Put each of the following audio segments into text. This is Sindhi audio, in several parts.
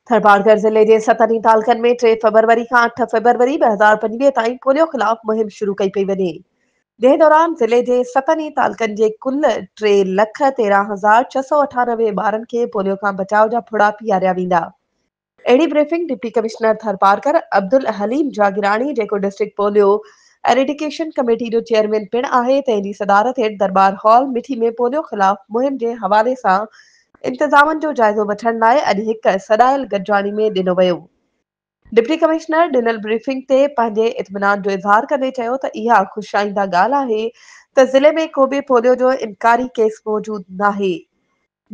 ٿرپارڪر ضلعي جي ستن ئي تعلقن ۾ ٽي فبروري کان اٺ فبروري ٻه هزار پنجويهه تائين پوليو خلاف مهم شروع ڪئي پئي وڃي، جنهن دوران ضلعي جي ستن ئي تعلقن جي ڪل ٽي لک تيرهن هزار ڇهه سؤ اٺانوي ٻارن کي پوليو کان بچاء جا ڦڙا پياريا ويندا. اهڙي briefing deputy commissioner Tharparkar Abdul Haleem Jagirani جيڪو ڊسٽرڪٽ پوليو ايريڊيڪيشن ڪميٽي جو چيئرمين پڻ آهي تنهن جي صدارت هيٺ درٻار هال مٺي ۾ پوليو خلاف مهم جي حوالي سان انتظامن جو جائزو وٺڻ لاء اڄ هڪ سڏايل گڏجاڻي ۾ ڏنو ويو. ڊپٽي ڪمشنر ڏنل بريفنگ تي پنهنجي اطمينان جو اظهار ڪندي چيو ته اها خوش آئنده ڳالهه آهي ته ضلعي ۾ ڪوبه پوليو جو انڪاري ڪيس موجود ناهي.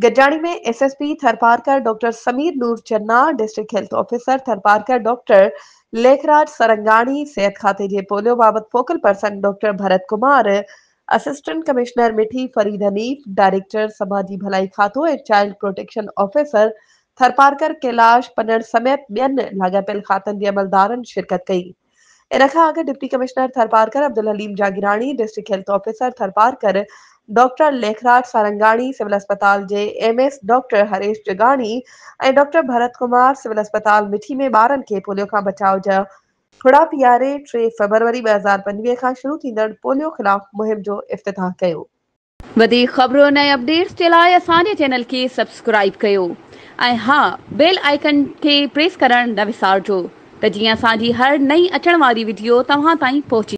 گڏجاڻي ۾ S S P Tharparkar doctor Sameer Noor Channa, district health officer Tharparkar doctor Lekhraj Sarangani, صحت کاتي جي پوليو بابت focal person doctor Bharat Kumar, assistant commissioner Mithi Farid Hanif, director سماجي ڀلائي کاتو ۽ child protection officer Tharparkar Kailash Panan سميت ٻين لاڳاپيل کاتن جي عملدارن شرڪت ڪئي. ان کان اڳ deputy commissioner Tharparkar Abdul Haleem Jagirani, district health officer Tharparkar doctor Lekhraj Sarangani, civil اسپتال جي M S doctor Harish Jagani ۽ doctor Bharat Kumar civil اسپتال مٺي ۾ ٻارن کي پوليو کان بچاء جا ٺڙا پي آر اي ٽي فيبروري ٻه هزار پنجويهه کان شروع ٿيندڙ پوليو خلاف مهم جو افتتاح ڪيو. وڌيڪ خبرن ۽ اپڊيٽس جي لاء اسان جي چينل کي سبسڪرائيب ڪيو ۽ ها بيل آئيڪن کي پريس ڪرڻ نه وسارجو ته جيئن اسان جي هر نئين اچڻ واري وڊيو توهان تائين پهچي